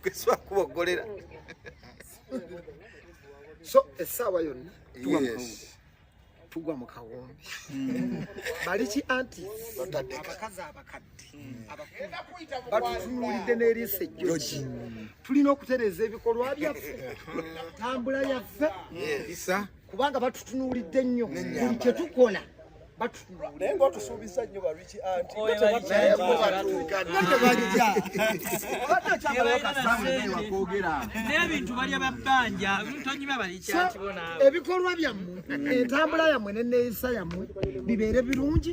Keswa kubogolera. So esawa yonna tuwa yes. Tugwa mu kawombi. Hmm. Bali ki anti batadde abakazi abakadde. Hmm. Abakenda kuita mu bwangu. Batulide ne lise joji. Hmm. Tulina okutereza ebikolwa byaffe. Tambula yaffe. Yes. Isa. kubanga batutunuulidde nnyo buli kye tukola naye ngaotusuubiza nnyo bariki antinebintu balya babbanja tonyuma balikyatibona ebikolwa byammwe entambula yammwe neneeyisa yammwe bibeere birungi